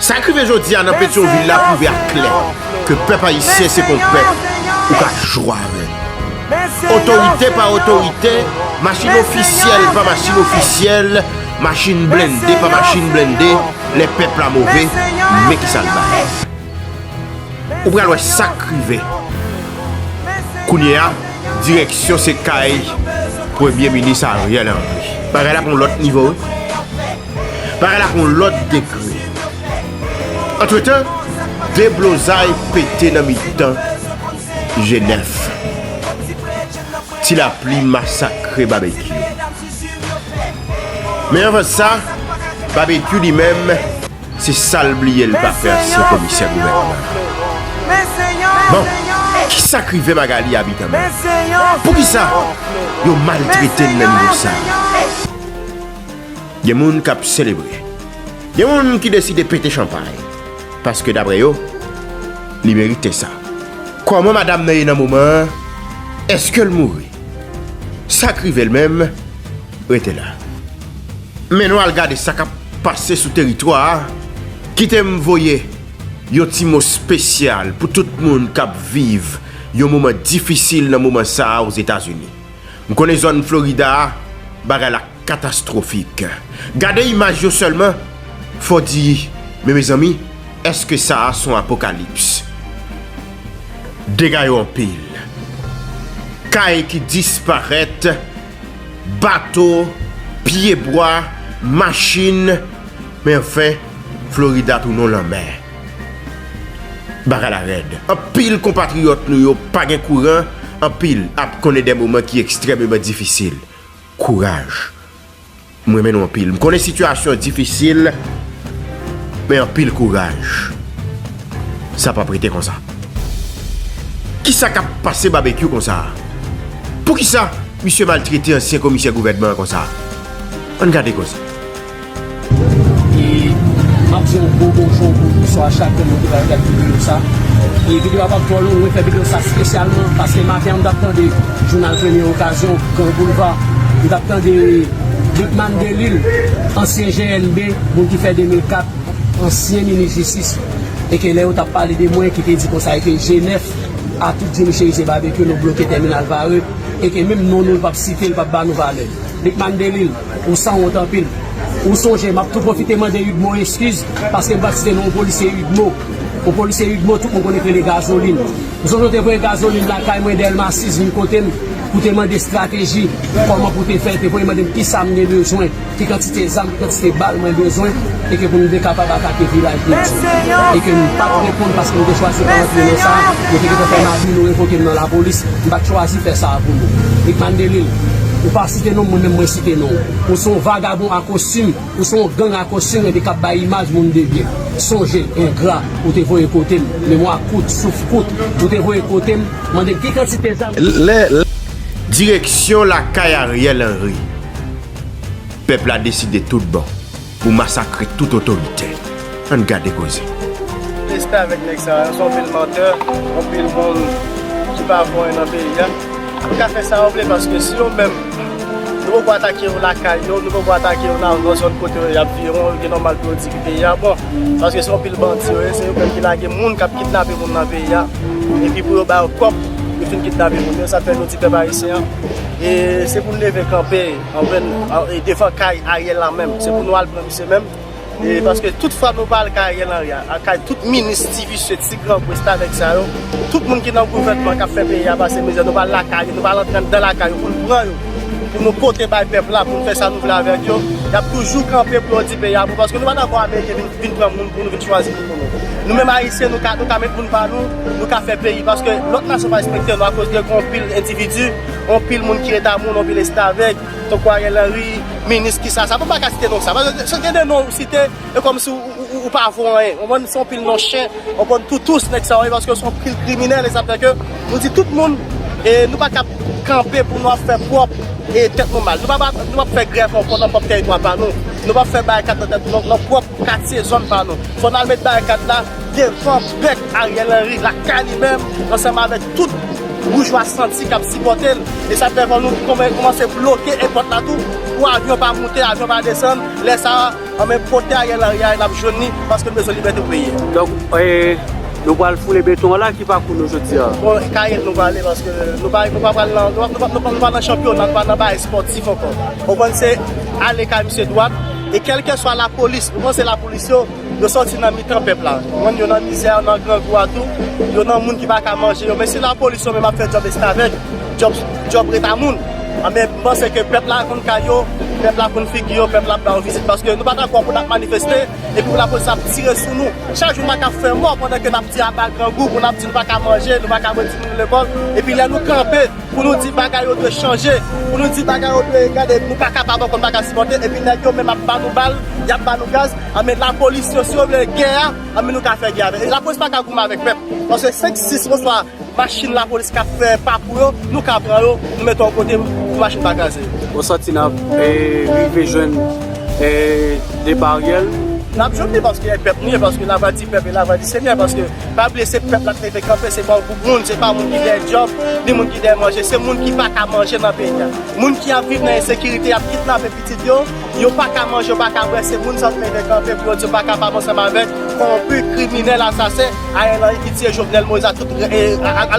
Sa k rive jodi a nan Petyonvil la pwouve ak klè ke pèp ayisyen se kon pèp ou ka jwe avè l. Otorite pa otorite, machin ofisyèl pa machin ofisyèl, machin blende pa machin blende, lè pèp la move, men ki sa l bay. Ou pral wè sa k rive. Kounye a, direksyon se kay Premye Minis Ariel Henry. Bagay la pran yon lòt nivo wi. Bagay la gon lòt degre. Antretan, deblozay pete nan mitan Jenèf. Ti lapli masakre Babekyou. Men anvan sa, Babekyou li menm, se sa l bliye l pa fè ansyen komisè gouvènman. Bon, ki sa k rive Magalie Habitant menm? Poukisa yo maltrete l nan nivo sa? Gen moun k ap selebre. Gen moun ki deside pete chanpay. Paske dapre yo, li merite sa. Kòman madam nan ye nan moman an? Eske l mouri? Sa k rive l menm? Rete la. Men nou al gade sa k ap pase sou teritwa a. Kite m voye yon ti mo spesyal pou tout moun k ap viv yon moman difisil nan moman sa a Ozetazini. M konnen zòn Florida a, bagay la. Katastrofik. Gade imaj yo sèlman, fò di, men mezanmi, èske sa a son apokalips? Dega yo anpil. Kay ki disparèt, bato, pye bwa, machin, men anfen, Florida tounon lanmè. Bagay la rèd. Anpil konpatriyòt nou yo pa gen kouran, anpil ap konnen de moman ki ekstrèmeman difisil. Kouraj. M renmen nou anpil. M konnen sitiyasyon difisil, men anpil kouraj. Sa p ap rete konsa. Ki sa k ap pase Babekyou konsa a? Poukisa misye maltrete ansyen komisè gouvènman an konsa a? An n gade koze. E map di yon gwo bonjou pou bonswa chak moun ki pral gad videyo sa. E videyo a pap twò long, mwen fè videyo sa spesyalman paske maten an m tap tande jounal premye okazyon, Gran Boulva, m tap tande Lucmane Delille, ansyen GNB, moun ki fè 2004, ansyen minis jistis, e ke lè yo tap pale de mwen ki te di konsa e ke G9 a tout di m cheriz e babekyu nou bloke tèminal Varreux e ke menm non nou l pap site, l pap ba nou valè. Lucmane Delille, ou san wont anpil. Ou sonje, m ap tou pwofite mande Udmo eskiz paske m pa t site non w polisye Udmo. Ou polisye Udmo tout moun konnen k rele Gazolin. Ou sonje w te voye Gazolin lakay mwen Dèlma 6 vin kote m pou w te mande estrateji kòman pou w te fè l. Te voye mande m kisa m gen bezwen, ki kantite zam. kantite bal mwen bezwen e ke pou m te kapab atake vilaj li di e ke m pat reponn paske m te chwazi pa rantre nan sa yo te gentan fè m abi nou revoke m nan lapolis m pat chwazi fè sa a pou nou Rickman Delil ou pa site non m mwen menm mwen site non ou ou se yon vagabon a kostim ou se yon gang a kostim e de kap bay imaj moun de byen sonje engra ou te voye kote m memwa kout souf kout ou te voye kote m mande m ki kantite zam. Direksyon lakay Ariel Henry. Pèp la deside tout bon pou masakre tout otoritè. Ann gade koze. Respè avèk nèg sa yo son pil mantè, yon pil moun ki pa bon yon nan peyi a. Yo ka fè sa yo vle paske si yo menm nou poko atake yo lakay yo, nou poko atake yo nan zòn kote yo yap viv yo gen nòmal pou yo di ki peyi a bon. Paske son pil bandi yo ye, se yo menm ki lage moun kap kidnape moun nan peyi a. Epi pou yo ba yo kòb, yo fin kidnape moun yo. Sa fè nou di pèp ayisyen e se pou leve kanpe. Anfen e devan kay Ariel la menm se pou nou al pran misye menm e paske tout fwa nou pa al kay Ariel Henry a kay tout minis ti visye ti grangou restavèk sa yo tout moun ki nan gouvènman kap fè peyi a pase mizè nou pa al lakay yo nou pa al antre anndan lakay yo pou nou pran yo pou nou pote bay pèp la pou nou fè sa nou vle avèk yo yap toujou kanpe pou yo di peyi a bon paske nou pa dakò ameriken vin pran moun pou nou vin chwazi moun pou nou nou menm ayisyen nou ka nou ka met moun pa nou nou ka fè peyi paske lòt nasyon pa respekte nou akoz de gon pil endividi. Anpil moun ki reta moun, anpil estavèk, tankou Ariel Henry, minis ki sa sa, mwen pa ka site non sa, paske gen de non ou site, e kòm si ou pa vo anyen, ou konprann, se anpil non chen, anpil toutous nèg sa yo ye, paske yo se anpil kriminèl, e sa fè ke nou di tout moun, e nou pa kab kanpe pou nou ap fè pwòp e tèt nou mal, nou pa ap, nou pa ap fè grèv ankò nan pwòp tèritwa pa nou, nou pa ap fè barikad nan tèt, nan pwòp katye, zòn pa nou, fò n al met barikad la devan bèk Ariel Henry, lakay li menm, ansanm avèk. Tout boujwa santi kap sipòte l e sa fè kò nou kòmanse bloke èpòt la tou pou avyon pa moute avyon pa desann lè sa anben kote Ariel Henry a nap jwenn li paske n bezwen libète pou peyi a. Donk nou pral foule beton an la ki pakou nou jodi a? Bon kayèk nou prale paske nou pa pral nan nou pa nan chanpyona nou pa nan bagay espòtif ankò ou konn se ale kay misye dwat e kèlkeswa lapolis ou konn se lapolis yo Yo sòti nan mitan pèp la. Moun yo nan mizè a, nan grangou a tou. Yo nan moun ki pa ka manje yo. Men si lapolis yo menm ap fè djòb estavèk, djòb ret a moun. Anben, m panse ke pèp la konn kay yo, pèp la konn figi yo, pèp la ap ba yo vizit. Paske nou pa dakò pou n ap manifeste epi pou lapolis ap tire sou nou. Chak jou moun ap fè mò pandan ke n ap di aba grangou, moun ap di nou pa ka manje, nou pa ka voye timoun nou lekòl. Epi lè nou kanpe pou nou di bagay yo dwe chanje, pou nou di bagay yo dwe gade, nou pa kapab ankò, nou pa ka sipòte. Epi nèg yo menm ap ba nou bal, y ap ba nou gaz. Anmèd la polis yo si yo vle gè a anmèd nou ka fè gè avèk yo la polis paka goumen avèk pèp paske 5 6 oswa machin la polis kap fè papou yo nou ka pran yo nou mete yo kote pou machin pa kraze yo. Bon santi nap rive jwenn depa ariel. Nap jwenn li paske e pèp nou ye paske la vwa di pèp e la vwa di senyè paske pa bliye se pèp lap leve kanpe se pa yon gwoup moun se pa moun ki dèyè dyòb ni moun ki dèyè manje se moun ki paka manje nan peyi a moun ki ap viv nan ensekirite yap kidnape pitit yo Yo pa ka manje, yo pa ka bwè, se moun sa yo t mete kanpe pou yo di yo pa kapab ansanm avèk kowonpi, kriminèl, asasen, Ariel Henry ki tiye Jovenel Moïse ak tout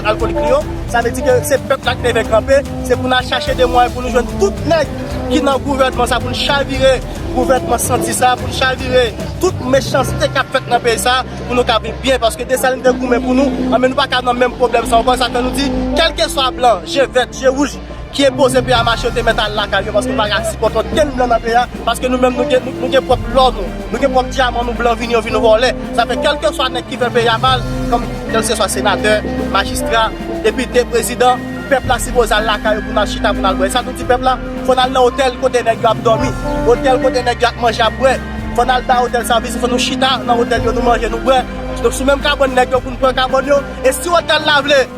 alkolik li yo. Sa vle di ke se pèp la ki leve kanpe, se pou nan chache de mwayen pou nou jwenn tout nèg ki nan gouvènman sa pou n chavire gouvènman santi sa, pou n chavire tout mechanste kap fèt nan peyi sa pou nou ka viv byen paske Dessalines te goumen pou nou, anben nou pa ka nan menm pwoblèm sa ankò, sa fè nou di kèlkeswa blan, je vèt, je wouj, ki enpoze pè a mache yo te mèt al lakay yo paske yo pa ka sipòte okenn blan nan pè a paske nou menm nou gen pwòp lò nou nou gen pwòp dyaman nou blan vini yo vin vòlè sa fè kèlkeswa nèg ki fè pè a mal kòm kèlkeswa senatè majistra depite prezidan pèp la sipoze al lakay yo pou nal chita pou nal bwè e sa nou di pèp la fò nal nan otèl kote nèg yo ap dòmi otèl kote nèg yo ap manje ap bwè fò nal bay otèl sa vizit fò nou chita nan otèl yo nou manje nou bwè sou menm kabòn nèg yo poun pran kabòn yo e si otèl la vle.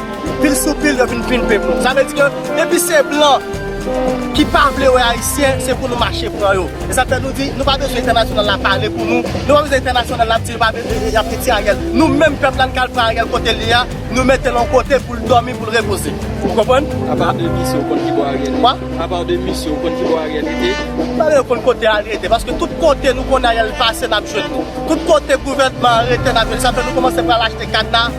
Pil sou pil yo vin pimpe pou nou. Sa vle di ke depi se blan ki pa vle wè ayisyen, se pou nou mache pran yo. E sa fè nou di nou pa bezwen entènasyonal la pale pou nou, nou pa bezwen entènasyonal la ap di y ap retire Ariel. Nou menm pèp la n ka al pran Ariel kote li a, nou mete l yon kote pou l dòmi, pou l repoze. Ou konprann? Apa de misye ou konn ki bò Ariel rete? Kwa? Apa de misye ou konn ki bò Ariel rete? M pa bezwen konn kote Ariel rete paske tout kote nou konnen Ariel pase n ap jwenn li. Tout kote gouvènman an rete n ap jwenn li. Sa fè nou kòmanse pral achte kadna.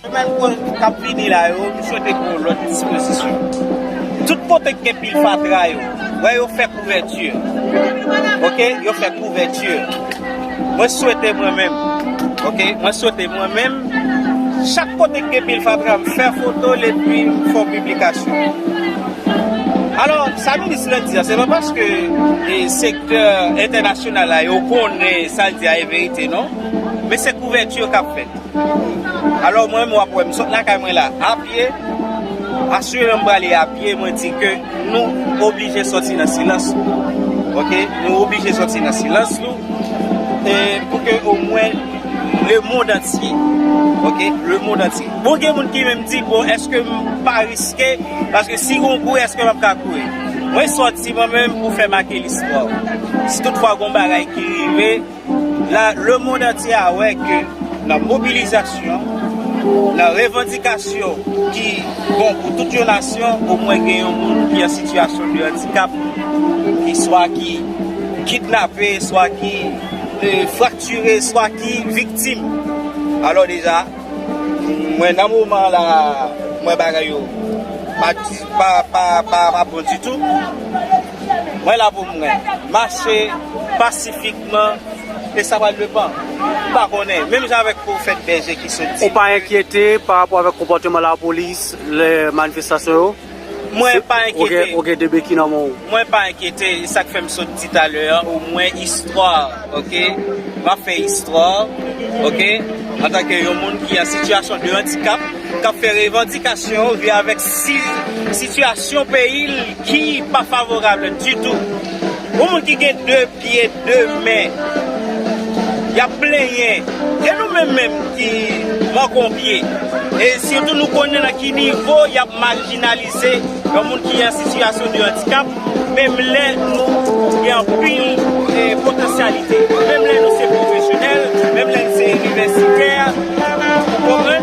Semèn k ap vini la yo, m swete gen yon lòt dispozisyon. Tout kote k gen pil fatra yo, wè yo fè kouvèti. Ok, yo fè kouvèti. Mwen swete mwen menm, ok, mwen swete mwen menm, chak kote k gen pil fatra, m fè foto l epi m fè yon piblikasyon. Alò, sa minis lan di a, se pa paske sektè entènasyonal la yo konnen sa l di a e verite non, men se kouvèti k ap fèt. Alò mwen menm wap wèm sot lakay mwen la a pye Asirem prale a pye mwen di ke nou oblije soti nan silans nou ok nou oblije soti nan silans nou e pou ke o mwen le mond antye ok le mond antye bon gen moun ki menm di bon eske m pa riske paske si gon kou eske map ka kouri mwen soti mwen menm pou fè make listwa si tout fwa gon bagay ki rive. La le mond antye a wè ke nan mobilizasyon, nan revandikasyon ki bon pou tout yon nasyon, omwen gen yon moun ki an sitiyasyon de andikap, ki swa ki kidnape, swa ki fraktire, swa ki viktim. Alò deja, mwen nan moman la a, mwen bagay yo pa bon ditou. Mwen la pou mwen. Mache pasifikman e sa pral depan. M pa konnen. Menm jan avèk pwofèt bèje ki sot di. Ou pa enkyete pa rapò avèk konpòteman lapolis lè manifestasyon yo? Mwen pa enkyete. Ou gen 2 beki nan men w. Mwen pa enkyete. E sa k fè m sot di talè an o mwen istwa ok. M ap fè istwa ok. Antanke yon moun ki an sitiyasyon de andikap k ap fè revandikasyon li avèk sitiyasyon peyi l. Ki pa favorable ditou. Yon moun ki gen 2 pye 2 men yap plenyen e nou menm menm ki manke pye e sitou nou konnen nan ki nivo yap marginalize yon moun ki an sitiyasyon de andikap menm lè nou gen anpil potansyalite menm lè nou se pwofesyonèl menm lè nou se inivèsitè ou konprann.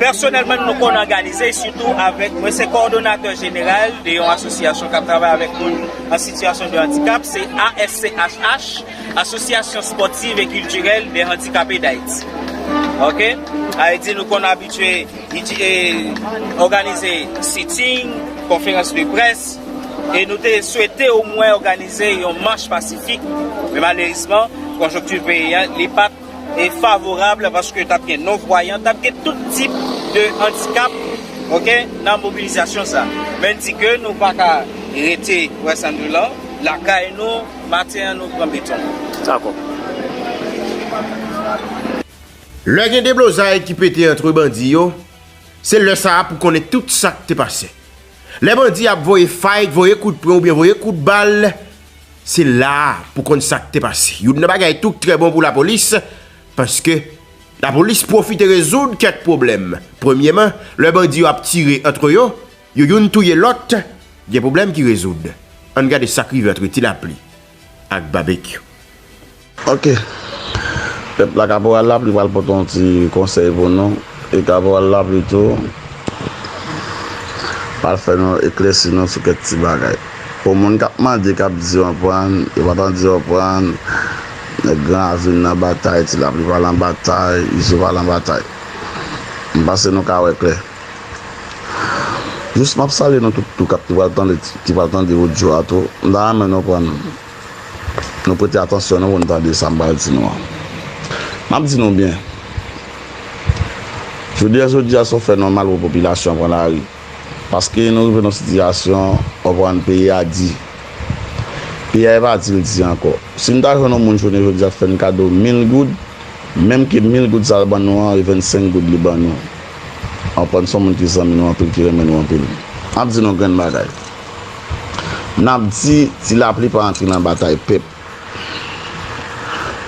Pèsonèlman nou konn òganize, sitou avèk, mwen se kòdonatè jeneral de yon asosyasyon k ap travay avèk moun an sitiyasyon de andikap, se ASCHH, Asosyasyon Spòtiv e Kiltirèl dè Andikape Dayiti. Ok. Sa vle di nou konn abitye òganize sitting, konferans de près, e nou te swete omwen òganize yon mach pasifik, men malerizman konjonkti peyi an li pa. favorab paske tap gen non vwayan tap gen tout tip de andikap ok nan mobilizasyon sa men di ke nou pa ka rete wè sa nou lan lakay nou maten an nou pran beton dakò. Lè gen deblozay ki pete antre bandi yo, se lè sa a pou konnen tout sa k te pase. Lè bandi ap voye fay, voye kout pwen oubyen voye kout bal, Se la a pou konn sa k te pase. Youn nan bagay tou k trè bon pou lapolis, paske lapolis pwofite rezoud kèk pwoblèm. Premyeman, lè bandi yo ap tire antre yo, yo youn touye lòt, gen pwoblèm ki rezoud. Ann gade sa k rive antre Tilapli ak Babekyou. Ok pèp la kaporal lapli pral pote yon ti konsèy pou nou e kaporal lapli tou pral fè nou eklèsi nou sou kèk ti bagay pou moun kap mande kap di yon prann yo pa tande yon prann nèg gran avin nan batay ti lapli pa lan batay izo pa lan batay m panse nou ka wè klè jis map salye nou tout tou kap ki pral tande ki pral tande odyo a tou m ta renmen nou prann Nou prete atansyon nou pou nou tande sa m pral di nou an. M ap di nou byen, jounen jodi a se yon fè nòmal pou popilasyon an pran lari paske nou rive nan yon sitiyasyon w konprann peyi a di. Peyi a e pa di l di ankò. Si n ta jwenn yon moun jounen jodi a fè n kado mil goud, menm ke mil goud sa l ban nou an e vennsenk goud li ban nou, w konprann se yon moun ki zanmi nou anpil, ki renmen nou anpil. M ap di nou grenn bagay. N ap di ti lapli pa antre nan batay pèp.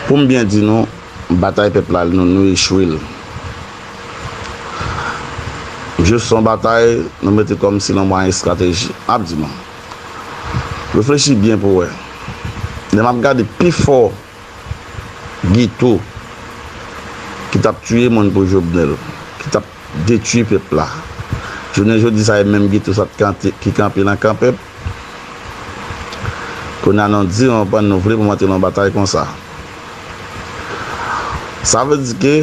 Pou m byen di nou, batay pèp la nou nou echwe l. Jis s on batay nou mete kòm si l on mwayen estrateji. M ap di nou, reflechi byen pou w wè. Lè m ap gade pifò geto ki t ap tiye moun pou Jobnèl, ki t ap. detui pèp la. Jounen jodi sa e menm Guito sa ki kanpe nan kan pèp. Kounye a nou di nou pa nou vle pou m antre nan yon batay konsa. Sa vle di ke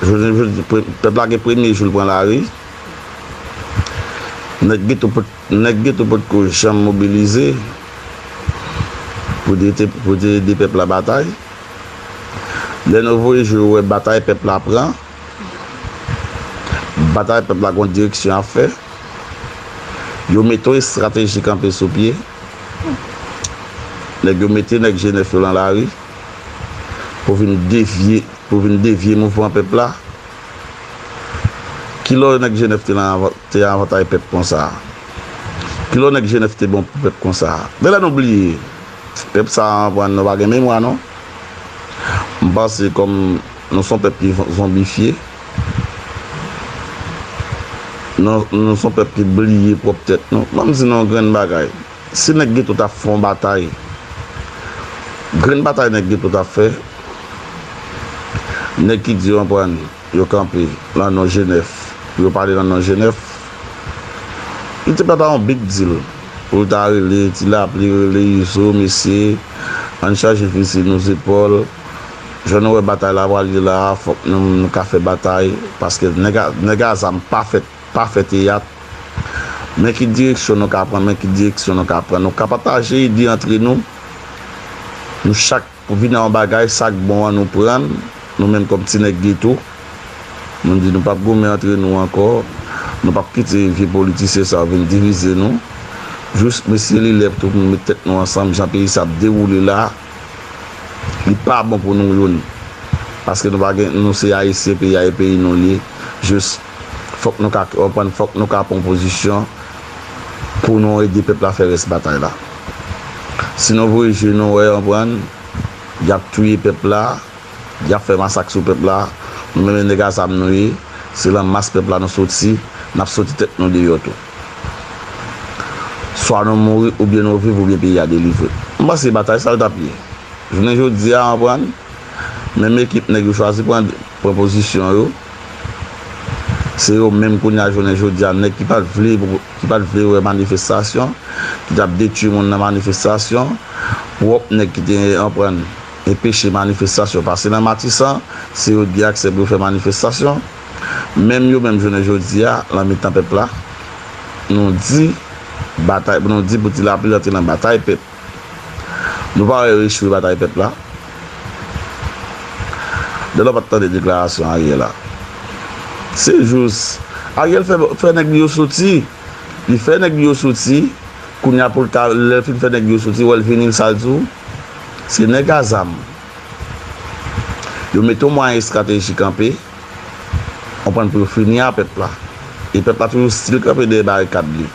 jounen jodi pèp la gen premye jou l pran lari. Nèg Guito pot nèg Guito pot ko janm mobilize pou te pou te ede pèp la batay. Lè nou voye jou yo wè batay pèp la pran. Batay pèp la gon direksyon ap fè. Yo mete yon estrateji kanpe sou pye. Nèg yo mete nèg Jenèf yo lan lari pou vin devye pou vin devye mouvman pèp la. Ki lò nèg Jenèf te lan te avantay pèp konsa? Ki lò nèg Jenèf te bon pou pèp konsa? Gen lè nou bliye. Pèp sa an pran nou pa gen memwa non. M panse kòm. Nou son pèp ki zonbifye. Nou son pèp ki bliye pwòp tèt nou. Banm di nou yon grenn bagay. Si nèg geto ta fè yon batay, grenn batay nèg geto ta fè, nèg ki di yo anprann yo kanpe nan non Jenèf pou yo pale nan non Jenèf, li te pa ta yon big deal pou l ta rele ti lapli, rele Izo, mesye ann chaje fizi nou zepòl. Jan nou wè batay la pral ye la a fòk nou menm nou ka fè batay paske nèg a zam pa fèt pa fè teyat men ki direksyon nou ka pran men ki direksyon nou ka pran nou ka pataje ide antre nou nou chak vin nan yon bagay sa k bon an nou pran l nou menm kòm ti nèg geto nou di nou p ap goumen antre nou ankò nou p ap kite vye politisyen sa yo vin divize nou jis mesye li lè pou nou met tèt nou ansanm jan peyi sa ap dewoule la a. Li pa bon pou nou youn. Paske nou pa gen, nou se Ayisyen, peyi a e peyi nou li ye. Jis, fòk nou ka, ou konprann, fòk nou ka pran pozisyon pou nou ede pèp la fè rès batay la. Si nou voye je nou wè, ou konprann, y ap touye pèp la, y ap fè masak sou pèp la, nou menm e nèg a zam nou ye, se lan mas pèp la nou soti, n ap soti tèt nou deyò tou. Swa nou mouri oubyen nou viv oubyen peyi a delivre. M panse batay sa l t ap ye. Jounen jodi a anprann, menm ekip nèg yo chwazi pran pran pozisyon yo, se yo menm kounye a jounen jodi a nèg ki pa t vle ki pa t vle wè manifestasyon, ki t ap detui moun nan manifestasyon, pwòp nèg ki te anprann enpeche manifestasyon pase nan Matisan, se yo t gen aksè pou yo fè manifestasyon. Menm yo menm jounen jodi a, lan mitan pèp la, nou di, batay, nou di pou ti lapli rantre lan batay pèp. Nou pa wè yo echwe batay pèp la? Delò pa t tande deklarasyon Ariel la. Se jous, Ariel fè, fè nèg li yo soti. Li fè nèg li yo soti, kounye a pou l ka, lè l fin fè nèg li yo soti, wè l vini, sa l di w? Se nèg a zam. Yo mete yon mwayen estratejik kanpe. Konprann pou yo fini a pèp la. E pèp la toujou stil kanpe dèyè barikad li.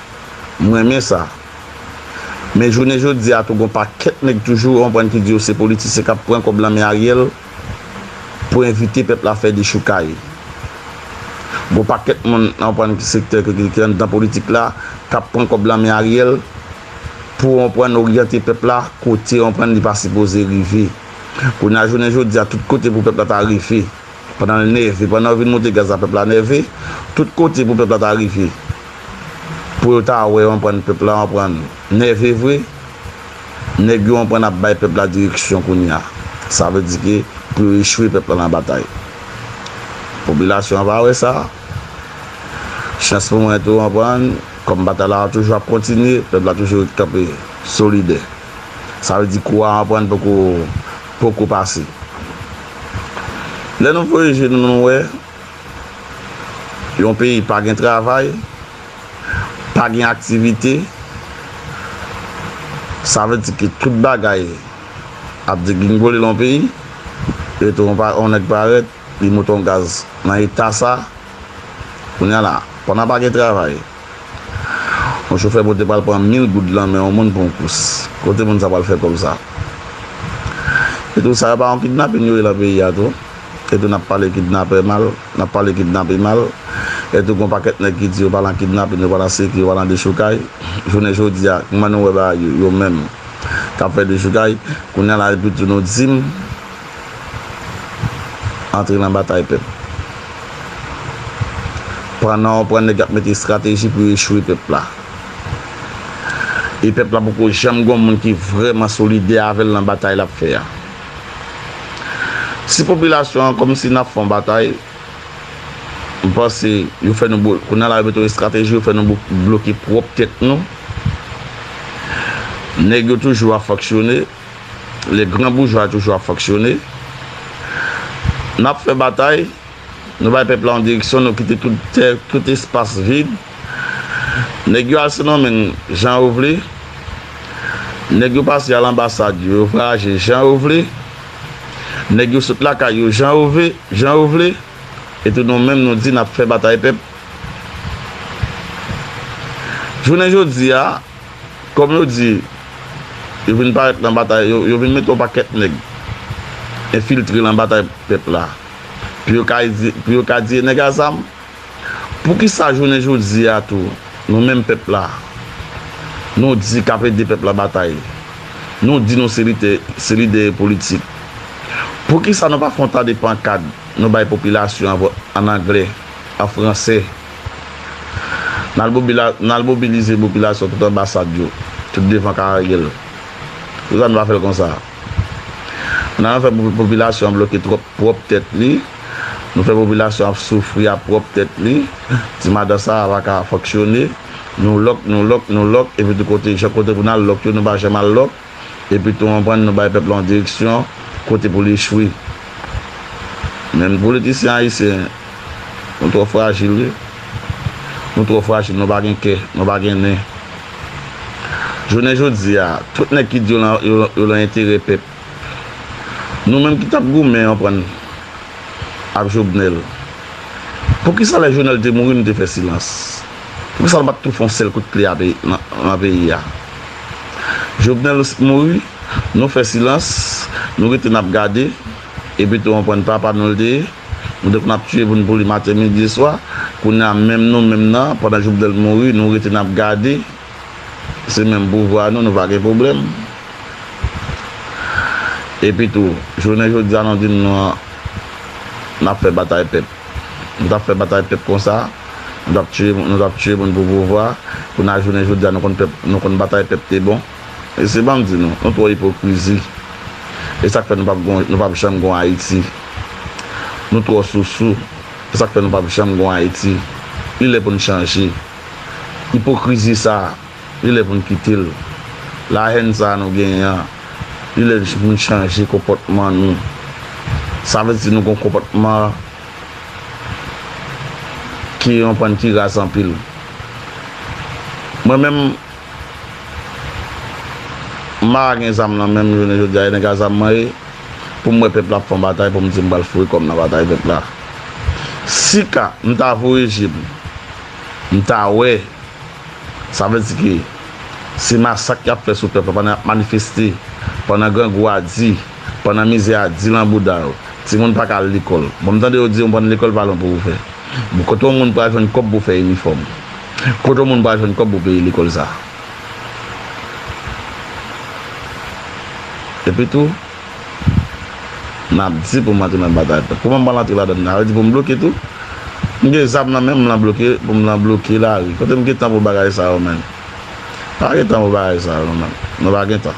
M renmen sa. Men jounen jodi a tou gon pakèt nèg toujou ou konprann ki di yo se politisyen k ap pran kòb lan men Ariel pou envite pèp la fè dechoukay. Gon pakèt moun ou konprann ki sektè ki anndan politik la k ap pran kòb lan men Ariel pou ou konprann oryante pèp la kote ou konprann li pa sipoze rive. Kounye a jounen jodi a tout kote pou pèp la ta rive. Pandan l nève, pandan yo vin monte gaz la pèp la nève, tout kote pou pèp la ta rive, pou yo ta wè yo anprann pèp la anprann nève vre, nèg yo anprann ap bay pèp la direksyon kounye a, sa vle di ke pou yo echwe pèp la nan batay. Popilasyon an va wè sa, chans pou mwen tou anprann, kòm batay la toujou ap kontinye, pèp la toujou ret kanpe solidè. Sa vle di kou a anprann poko poko pase. Lè nou voye je nou nou wè yon peyi pa gen travay, pa gen aktivite, sa vle di ke tout bagay ap degringole lan peyi, rete yon pa yon nèg parèt li moute yon gaz nan eta sa, kounye a la pandan pa gen travay. Yon chofè pote pral pran mil goud lan men yon moun pou yon kous. Kote moun sa pral fè kòb sa? E tou sa yo pa yon kidnapin yo ye lan peyi a tou? E tou nap pale kidnapè mal, nap pale kidnapin mal, e tou gon pakèt nèg ki di yo pa lan kidnapin, yo pa lan siki, yo pa lan dechoukay. Jounen jodi a, kman nou wè bagay yo, yo menm kap fè dechoukay, kounya la epi tou nou dim. Antre nan batay pèp. Pandan ou pran nèg yap mete strateji pou yo echwe pèp la. E pèp la poko janm gon moun ki vrèman solidè avèl nan batay lap fè a. Si popilasyon an kòmsi nap fon batay, m panse yo fè nou kounya la yo mete yon estrateji yo fè nou bloke pwòp tèt nou. Nèg yo toujou ap fonksyone. Le gran boujwa toujou ap fonksyone. N ap fè batay, nou bay pèp la yon direksyon, nou kite tout tè, tout espas vid. Nèg yo al Sendomeng jan yo vle. Nèg yo pase al anbasad yo, yo vwayaje jan yo vle. Nèg yo sot lakay yo jan yo vle, jan yo vle. Epi nou menm nou di n ap fè batay pèp. Jounen jodi a, Kòm yo di, yo vin parèt lan batay, yo vin mete yon pakèt nèg enfiltre lan batay pèp la, pou yo ka di, pou yo ka di e nèg a zam? Poukisa jounen jodi a tou, nou menm pèp la, nou di k'ap ede pèp la batay, nou di nou se lite, se lidè e politik, poukisa nou pa fon ta de pankad nou bay popilasyon an vòt an anglè, an fransè? N al mobilize popilasyon tout anbasad yo, tout devan ka Ariel. Poukisa nou pa fè l konsa? N al fè popilasyon an bloke twòp pwòp tèt li, nou fè popilasyon ap soufri a pwòp tèt li, ti madan sa a pa ka fonksyone, nou lòk, nou lòk, nou lòk, epi tout kote, chak kote pou n al lòk yo, nou pa janm al lòk. Epitou anprann nou bay pèp la yon direksyon kote pou li echwe. Men nou politisyen ayisyen, nou twò frajil wi. Nou twò frajil, nou pa gen kè, nou pa gen nen. Jounen jodi a, tout nèg ki di yo lan enterè pèp. Nou menm ki t ap goumen anprann ak Jobnèl, poukisa lè Jonèl te mouri nou te fè silans? Poukisa nou pat tou fè yon sèl kout kle ape nan peyi a? Jovenel ou sit mouri, nou fè silans, nou rete nap gade, epi tou anprann papa nou li te ye, nou te konn ap tiye moun pou li maten midi swa, kounye a menm nou menm nan pandan Jovenel mouri nou rete nap gade, se menm pouvwa nou, nou pa gen pwoblèm. Epi tou, jounen jodi a nou di nou nap fè batay pèp. Nou tap fè batay pèp konsa, nou tap tiye moun, nou tap tiye moun pou pouvwa, kounye a jounen jodi a nou konn pèp, nou konn batay pèp te bon. Mesye banm di nou, nou twò ipokrizi. E sak fè nou pap gon, nou pap janm gon Ayiti. Nou twò sousou. E sak fè nou pap janm gon Ayiti. Li lè pou nou chanje. Ipokrizi sa. Li lè pou n kite l. Lahèn sa a nou genyen an, li lè pou n chanje konpòtman nou. Sa vle di nou gon konpòtman ki yon pan ki raz anpil. Mwen menm, m pa ka gen zam nan men m jounen jodi a, e nèg a zam mwen ye, pou m wè pèp la ap fè yon batay pou m di m pral foure kò m nan batay pèp la. Si ka m ta voye je m, m ta wè. Sa vle di ke se masak yap fè sou pèp la pandan yap manifeste, pandan grangou a di, pandan mizè a di lan bouda yo. Timoun pa ka al lekòl. Bon m tande yo di yon bann lekòl pa lwen pou ou fè. Bon kote yon moun pral jwenn kòb pou fè inifòm? Kote yon moun pral jwenn kòb pou peye lekòl sa? Epi tou. Nap di pou m antre nan batay pèp. Kouman m pral antre ladann nan? Sa vle di pou m bloke tou? M gen zam nan menm m lan bloke pou m lan bloke lari. Kote m gen tan pou bagay sa yo menn? M pa gen tan pou bagay sa yo menm. Mwen pa gen tan.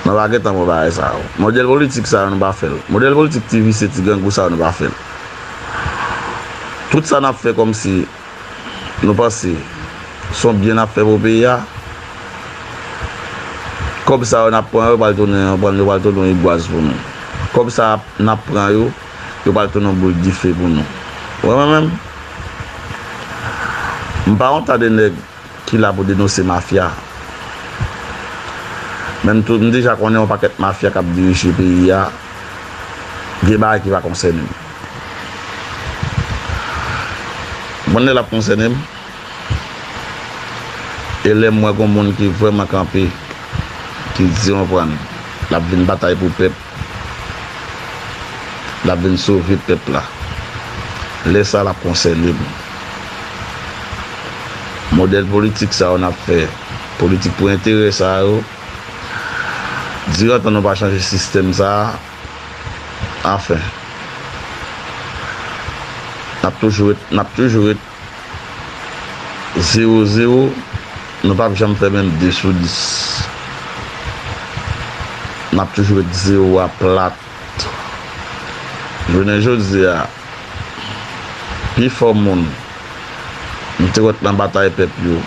Mwen pa gen tan pou bagay sa yo. Modèl politik sa yo nou pa fè l. Modèl politik ti visye ti grangou sa yo nou pa fè l. Tout sa nap fè kòmsi. Nou panse son byen nap fè pou peyi a. Kòb sa yo nap pran yo pral tounen yon pral yo pral tounen yon igwaz pou nou. Kòb sa nap pran yo yo pral tounen yon boul dife pou nou. Wè mwen menm? M pa yon ta de nèg. Ki la pou denose mafya. Menm tou nou deja konnen yon pakèt mafya kap dirije peyi a gen bagay ki pa konsène m. M konn lè lap konsène m e lè m wè gon moun ki vrèman kanpe ki di yon prann lap vin batay pou pèp. L ap vin sove pèp la. Lè sa a, l ap konsène nou. Modèl politik sa yo n ap fè, politik pou enterè sa yo, dirantan nou pa chanje sistèm sa a, anfen, n ap toujou ret, n ap toujou ret. Zero zero Nou pap janm fè menm 2 sou 10 Nap toujou ret zero a plat Jounen jodi a Pi fò moun M te wè t nan batay pèp yo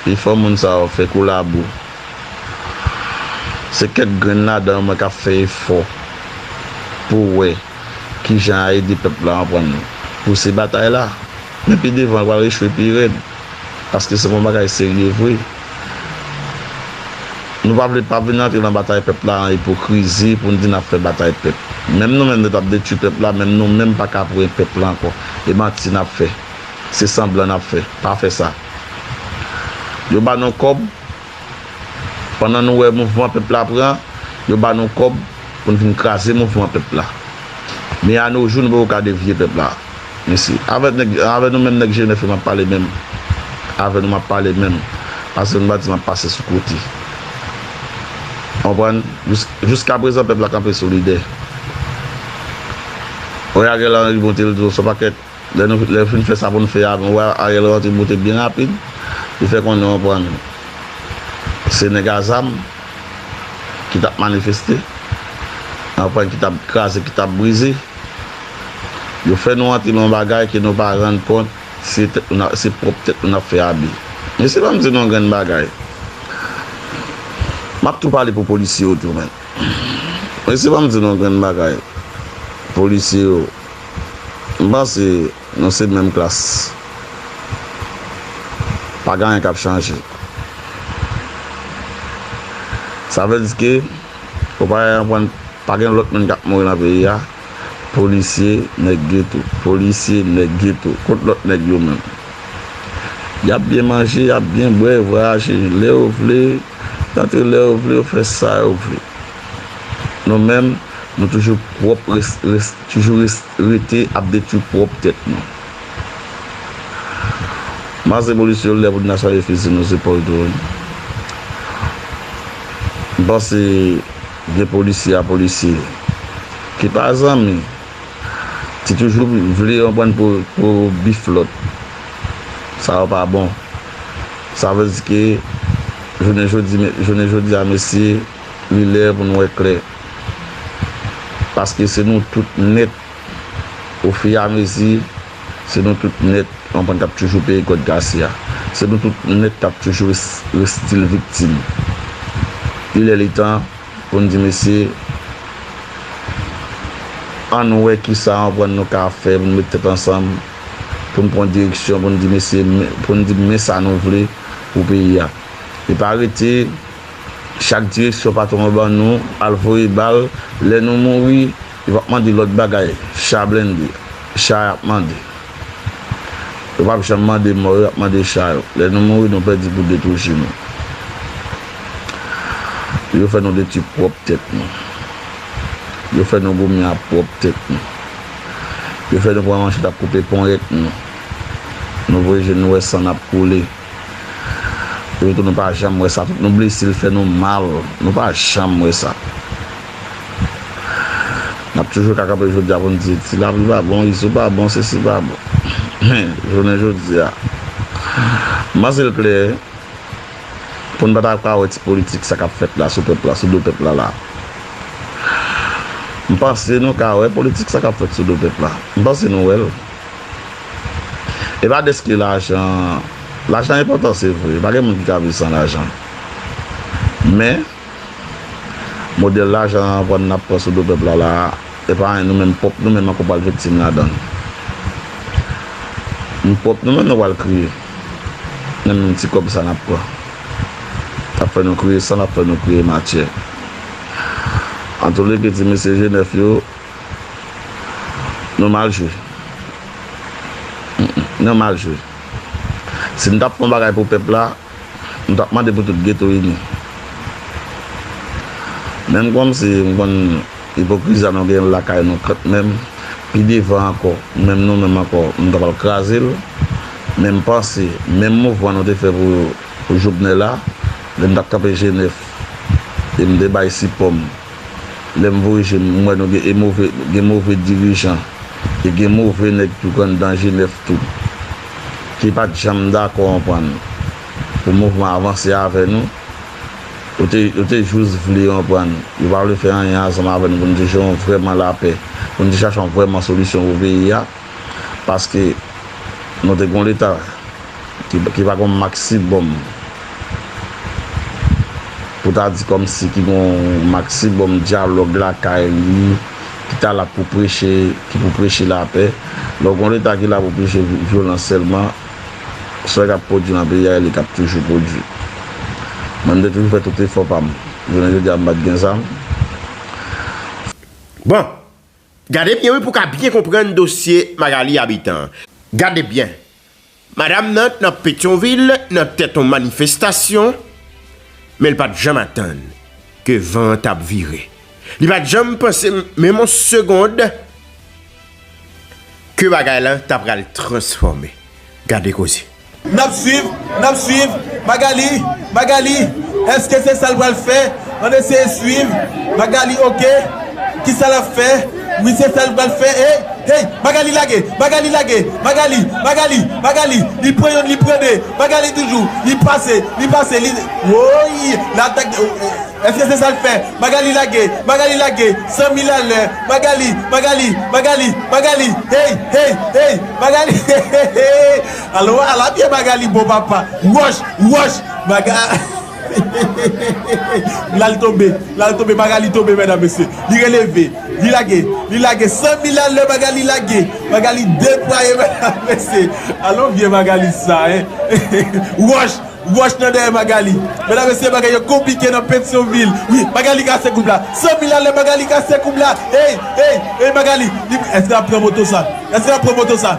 Pi fò moun sa yo fè kou labou Se kèk grenn ladan yo mwen k ap fè efò Pou wè. Ki jan a ede pèp la anprann pouse batay la. Men pi devan li pral echwe pi rèd. Paske se pou yon bagay serye vre. Nou pa vle pa vin antre nan batay pèp la an ipokrizi pou n di n ap fè batay pèp. Menm nou menm nou t ap detwi pèp la menm nou menm pa ka pwen pèp la ankò. E manti n ap fè. Se sanblan n ap fè. Pa fè sa. Yo ba nou kòb. Pandan nou wè mouvman pèp la pran, yo ba nou kòb pou n vin kraze mouvman pèp la. Men anojou nou poko ka devye pèp la. Mesi. Avè nou menm nèg Jenèfe m ap pale menm. Avè nou m ap pale menm. Pase nou pa di m ap pase sou kote. Konprann? Jiskaprezan pèp la kanpe solidè. Wè Ariel Henry monte l di w son pakèt. Lè nou lè fin fè sa pou nou fè a nou wè Ariel rantre bote byen rapid li fè konnen ou konprann se nèg a zam ki tap manifeste ou konprann ki tap kraze ki tap brize yo fè nou rantre nan yon bagay ke nou pa rann kont se tèt nou nap se pwòp tèt nou nap fè abi mesye banm di nou yon grenn bagay map tou pale pou polisye yo tou menn mesye banm di nou yon grenn bagay polisye yo. M panse nou se menm klas. Pa gen anyen k ap chanje. Sa vle di ke ou pa ka konprann pa gen lòt moun k ap mouri nan peyi a? Polisye, nèg geto. Polisye, nèg geto. Kot lòt nèg yo menm? Y ap byen manje, y ap byen bwè, vwayaje lè yo vle, rantre lè yo vle, fè sa yo vle. nou menm nou toujou pwòp toujou rete ap detwi pwòp tèt nou. Mas revolisyon lè pou n ta chaje fizi nou zepòl tou wi. M panse gen polisye a polisye ki pa zanmi ki toujou vle yon bann pou bif lòt. Sa yo pa bon. Sa vle di ke jounen jodi jounen jodi a mesye. Li lè pou n wè klè. Paske se nou tout nèt, ofiyamezi, se nou tout nèt ki konprann k ap toujou peye kòd kase a. Se nou tout nèt k ap toujou ret stil viktim. Li lè li tan pou n di mesye, ann wè kisa yon anprann nou ka fè pou n met tèt ansanm, pou n pran direksyon, pou n di mesye, pou n di men sa nou vle pou peyi a. E pa rete. Chak direksyon patwon an ban nou, al voye bal, lè nou mouri, yo pap mande lòt bagay, cha blende, cha yap mande. Yo pap janm mande mò yo, yap mande cha yo. Lè nou mouri, nou pèdi pou de tou ji nou. Yo fè nou detwi pwòp tèt nou. Yo fè nou goumen a pwòp tèt nou. Yo fè nou pran manchèt ap koupe ponyèt nou. Nou voye je nou wè san ap koule. Yo tou nou pa janm wè sa tout nou blese l fè nou mal nou pa janm wè sa nap toujou ka kanpe jodi a pou n di ti lapli pa bon izo pa bon sesi pa bon men jounen jodi a m panse l klè pou n pa ta ka wè ti politik sa kap fèt la sou pèp la sou do pèp la la m panse nou ka wè politik sa kap fèt sou do pèp la m panse nou wè l. E pa deske lajan, lajan enpòtan se vre, pa gen moun ki ka viv san lajan. Men, modèl lajan vann n ap pran sou do pèp la la a, e pa anyen nou menm pwòp nou menm ankò pral viktim ladan l. Nou pwòp nou menm nou pral kriye nan menm ti kòb sa n ap pran. L ap fè nou kriye san, l ap fè nou kriye matyè. Antouleke ti mesye Jenèf yo. Nou mal jwe. Nou mal jwe. Si nou tap fè yon bagay pou pèp la, nou tap mande pou tout geto ini. Menm kòm si m konn ipokrizi a nou genyen lakay nou kant menm, pi devan ankò, menm nou menm ankò, nou ta pral kraze l. Menm panse, menm mouvman nou te fè pou Jovenel la, lè m tap kanpe Jenèf e m te bay sipò m. lèm voye jem m wè nou gen e move gen move dirijan e gen move nèg tou kan dan jenèf tou ki pat janm dakò anprann pou mouvman avanse avè nou yo te yo te jous vle anprann yo pa vle fè anyen ansanm avè nou pou nou te jè yon vrèman lapè pou nou te chache yon vrèman solisyon pou peyi a paske nou te gon leta. Ki pa gon maksibòm. Pou ta di kòmsi ki gon maksibòm dyalòg lakay li, ki ta la pou preche, ki pou preche lapè. Lè w gon Leta ki la pou preche vyolans sèlman, sè k ap pwodui nan peyi a e li k ap toujou pwodui. Mwen m te toujou fè tout efò pa m. Jounen jodi a m pa t gen zam. Bon! Gade byen wi pou w ka byen konprann dosye Magalie Habitant an. Gade byen! Madam nan t nan Petyonvil nan tèt on manifestasyon, men l pa t janm atann ke van an t ap vire. Li pa t janm panse menm on segond ke bagay lan ta pral transfòme. Gade koze! N ap swiv, n ap swiv. Magali, Magali, èske se sa l pral fè? An eseye swiv Magalie ok kisa lap fè wi se sa li pral fè hey hey Magalie lage Magalie lage Magalie Magalie Magalie li pran yonn li pran 2 Magalie toujou li pase li pase li woyy l'attaque de eske se sal fè Magalie lage Magalie lage 100 mil a lè Magalie Magalie Magalie Magalie hey hey hey Magalie heheheh alò ala pye Magalie bon papa wòch wòch Maga. Hehehehehehe lal tonbe lal tonbe Magalie tonbe mèdam mesye li releve li lage li lage san mil a lè Magalie lage Magalie deplwaye mèdam mesye alon vye Magalie sa hein hehehehe wòch wòch nan dèyè Magalie mèdam mesye bagay yo konplike nan Petyonvil wi Magalie kase koub la san mil a lè Magalie kase koub la eyy eyy eyy Magalie li èske lap pran moto sa èske lap pran moto sa.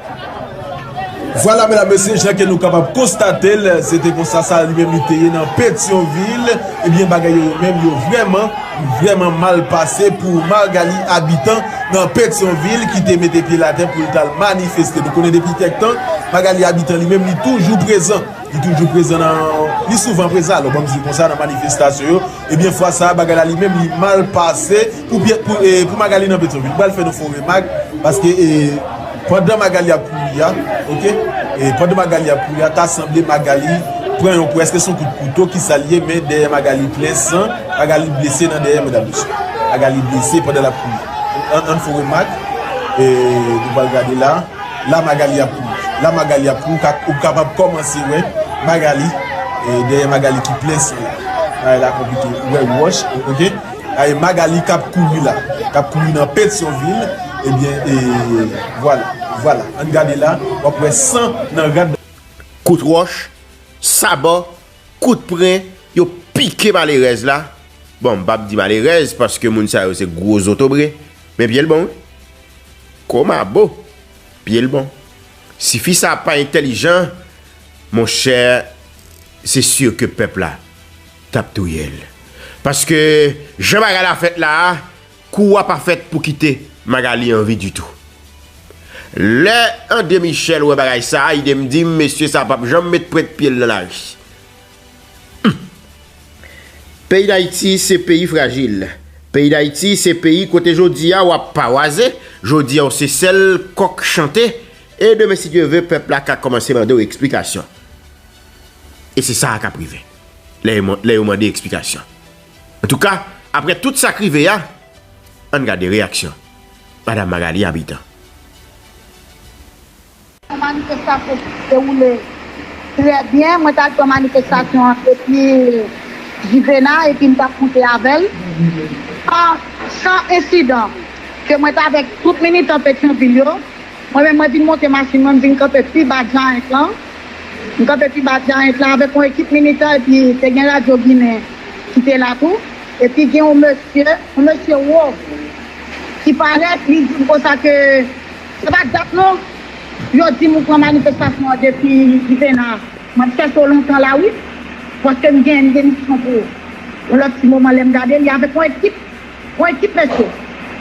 Vwala medam mesye jan ke nou kapab konstatel se te konsa sa li menm li te ye nan petyonvil ebyen bagay yo yo menm yo vrèman vrèman mal pase pou margali abitan nan petyonvil ki te mete pyel atè poul tal manifeste nou konnen depi kèk tan margali abitan li menm li toujou prezan li toujou prezan nan li souvan prezan alò banm di konsa nan manifestasyon yo. Ebyen fwa sa bagay la li menm li mal pase pou pyè pou e pou Magalie nan Pétion ville pral fè nou fo remak paske e pandan Magalie ap kouri a ok e pandan Magalie ap kouri a ta sanble Magalie pran yon kou eske son kout kouto kisa li ye men dèyè Magalie plen san Magalie blese nan dèyè medam mesye Magalie blese pandan lap kouri ann fo remak e nou pral gade la. La Magalie ap ri. La Magalie ap ri ou kapab kòmanse wè Magalie dèyè Magalie ki plen san la. Bagay la konplike ou wè wòch ok ay Magalie kap kouri la kap kouri nan Petyonvil ebyen vwala vwala ann gade la wap wè san nan rad. Kout wòch, saba, kout pren yo pike malerèz la, bon m pap di malerèz paske moun sa yo se gwo zotobre men pyel bon wi. Komabo pye l bon. Si fi sa pa entèlijan monchè se sur ke pèp la tap touye l. Paske jan bagay la fèt la a kou a pa fèt pou kite Magalie an vi ditou. Lè André Michel wè bagay sa a idem dim mesye sa pap janm met pwent pye l nan lari. Humm! Peyi Dayiti se peyi frajil, peyi Dayiti se peyi kote jodi a wap pawaze, jodi a w se sèl kòk chante, e demen si Dye ve pèp la ka kòmanse mande w eksplikasyon. E se sa a kap rive, lè yo mande eksplikasyon. Antouka, aprè tout sak rive a, ann gade reyaksyon Madam Magalie Habitant. Manifestasyon ki te dewoule trè byen. Mwen ta pran manifestasyon an depi Jivena epi m t ap moute avè l san ensidan. Ke mwen t avèk tout militan Petyonvil yo. Mwen menm mwen vin monte machin mwen, m vin kanpe pi ba Giant lan. M kanpe pi ba Giant lan avèk yon ekip militan epi te gen radyo ginen ki te la tou. Epi gen yon mesye, yon mesye wo ki parèt li di m konsa ke. Se pa dat non yo dim ou pran manifestasyon an depi Juvénat map chèche w lontan la wi paske m gen demisyon pou yon lòt ti moman lèm gade li avèk yon ekip yon ekip mesye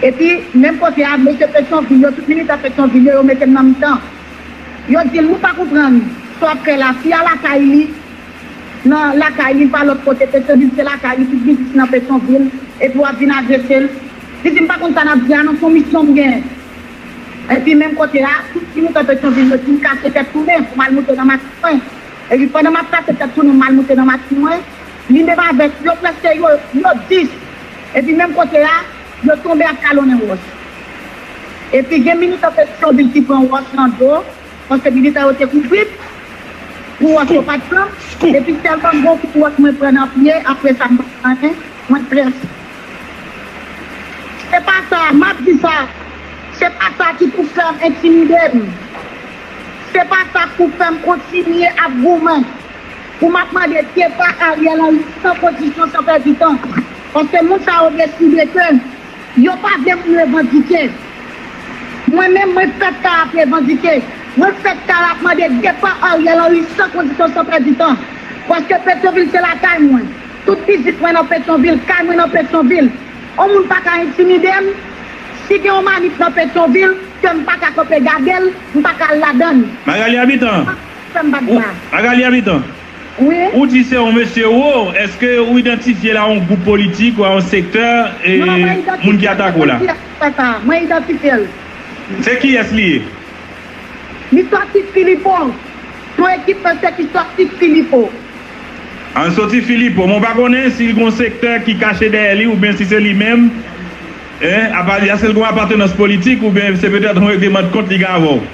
epi menm kote a mesye petyonvil yo tout militan petyonvil yo yo mete m nan mitan yo dil nou pa konprann sa wap fè la fi a lakay li nan lakay li li pa lòt kote petyonvil se lakay li tout biznis li nan petyonvil epi wap vin agresel li dim pa konn sa nap di a non son misyon m gen. Epi menm kote a, tout ti mouton Petyonvil yo di m kase tèt tounen pou m al moute nan machin mwen. Epi pandan m ap kase tèt tounen pou m al moute nan machin mwen, li menm avèk yo prèske yo, yo dis. Epi menm kote a, yo tonbe ap kalonnen wòch. Epi gen militan Petyonvil ki pran wòch nan do, paske militan yo te kouvri m pou wòch yo pa t pran m. Epi tèlman m gen yon kout wòch mwen pran nan pye, apresa m pa t pran anyen, mwen prèske. Se pa sa, m ap di sa, se pa sa ki pou fè m entimide m. Se pa sa k pou fè m kontinye ap goumen pou m ap mande depa Ariel Henry san kondisyon, san pèdi tan. Paske moun sa yo deside ke yo pa vle moun revandike. Mwen menm, mwen fèt kal ap revandike. Mwen fèt kal ap mande depa Ariel Henry san kondisyon, san pèdi tan. Paske Petyonvil se lakay mwen. Tout pitit mwen nan Petyonvil, kay mwen nan Petyonvil. On moun pa ka entimide m. Si gen on manif nan Petyonvil, ke m pa ka kanpe gade l, m pa ka al ladan l. Magalie Habitant, Ou pa ka fè m bat ba. Magalie Habitant, Wi. Ou di se on mesye ou, eske ou idantifye l a on gwoup politik ou a on sektè e moun ki atake w la? Non, mwen idantifye l, se pa kiyès ki fè sa a. Mwen idantifye l. Se kiyès li ye? Li sòti Filipo. Son ekip mesye ki sòti Filipo. An soti Filipo, mwen pa konnen si gon sektè ki kache dèyè li oubyen si se li menm, en, apa, èske l gon apatenans politik oubyen se petèt yon regleman de kont li gen avè w?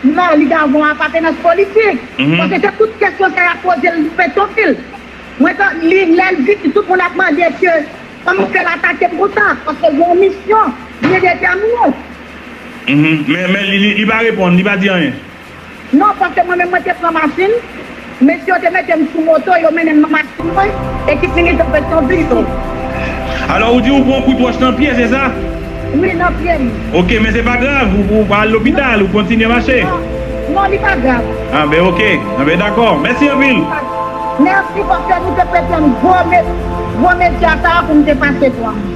Non, li ka gon apatenans politik, paske se tout kesyon sa y ap poze l Petonvil. Mwen ta, li, lè l vini, tout moun ap mande èske, kòman fè l atake m konsa, paske l gen yon misyon byen detèmine. Men, men, li, li pa reponn, li pa di anyen? Non, paske mwen menm mwen te pran machin, mesye yo te mete m sou moto, yo mennen m nan machin mwen, ekip militan Petyonvil yo. Alò ou di ou pran kout wòch nan pye, se sa? Wi, nan pye m. Ok, men se pa grav, ou pa al lopital, ou kontinye mache? Non, non, li pa grav. Ah ben ok, ah ben dakò, mèsi anpil. Mèsi, paske nou te prete m gwo, gwo medya sa a pou m te pase pran l.